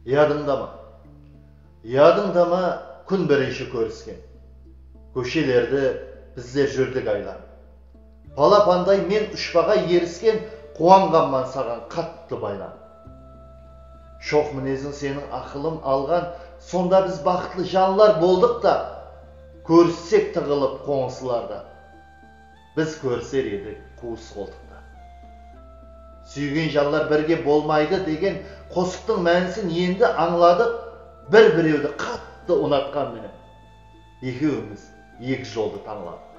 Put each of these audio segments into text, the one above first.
Yadıńda ma? Yadıńda ma kún birinshi kórisken kóshelerdi bizler júrdik aylanıp. Palapanday men ushpaǵa erisken quwanǵanman saǵan qattı baylanıp. Shoq mineziń seniń aqılım alǵan sonda biz baxıtlı janlar boldıq ta kórissek tıǵılıp qońısılardan. Biz kóriser edik quwıs qoltıqta. Súygen janlar birge bolmaydı degen qosıqtıń mánisin endi ańladıq bir birewdi qattı unatqan menen ekewimiz eki joldı tańladıq.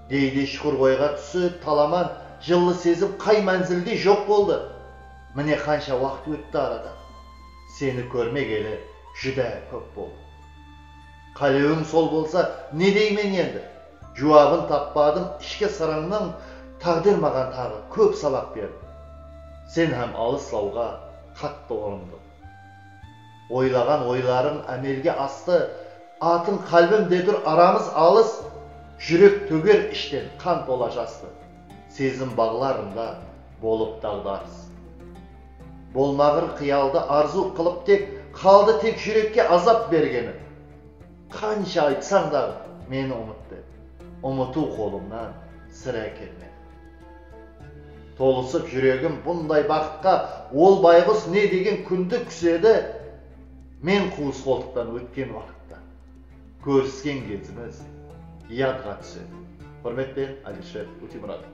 Geyde shuqır oyǵa túsip talaman jıllı sezim qay mánzilde joq boldı. Mine qansha waqıt ótti aradan. Seni kórmegeli júdá kóp boldı. Qálewiń sol bolsa, ne deymen endi? Juwabın tappadım, ishki sırıńnıń táǵdir maǵan taǵı kóp sabaq berdi. Sen hám alıs lawǵa qattı urındıń. Oylaǵan oylarıń ámelge astı, atıń qálbim de tur aramız alıs, júrek tóger ishten qan tola jastı, sezim baǵlarında bolıp daǵdarıs. Bolmaǵır qıyaldı arzıw qılıp tek, Qaldı tek júrekke azap bergeni. Qansha aytsań daǵı, meni umıt dep, Umıtıw qolıńnan sirá kelmedi. Tolısıp júregim bunday baxıtqa, Ol bayǵus ne degen kúndi kúsedi? Men quwıs qoltıqtan ótken waqıtta, Kórisken gezimiz yadǵa túsedi. Húrmetpen Alisher Utimuratov.